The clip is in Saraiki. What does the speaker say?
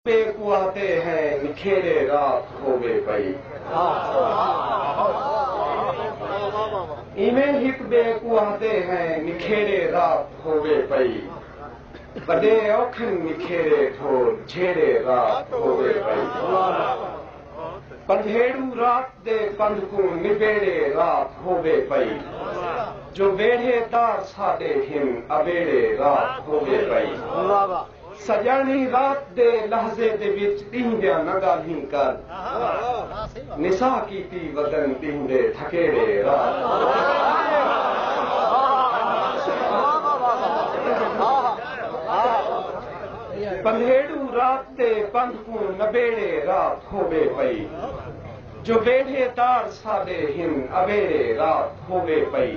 تے کواتے ہیں نکھیرے رات ہووے پئی۔ ایویں ہک بے کواتے ہیں نکھیرے رات ہووے پئی۔ وڈے اوکھن نکھیرے ڈھول جھیرے رات ہووے پئی۔ پندھیڑو رات دے پندھ کوں نبیڑے رات ہووے پئی۔ جو ویڑھے دار ساڈے ہن ابیڑے رات ہووے پئی۔ سڄاݨی رات دے لحظے دے وچ ݙینہہ دیاں نہ ڳالھیں کر نساء کیتی ودن ݙینہہ دے تھکیڑے رات پندھیڑوں رات تے پندھ کوں نبیڑے رات ہووے پئی جو بیڑھے تار ساݙے ہن اویڑے رات ہووے پئی۔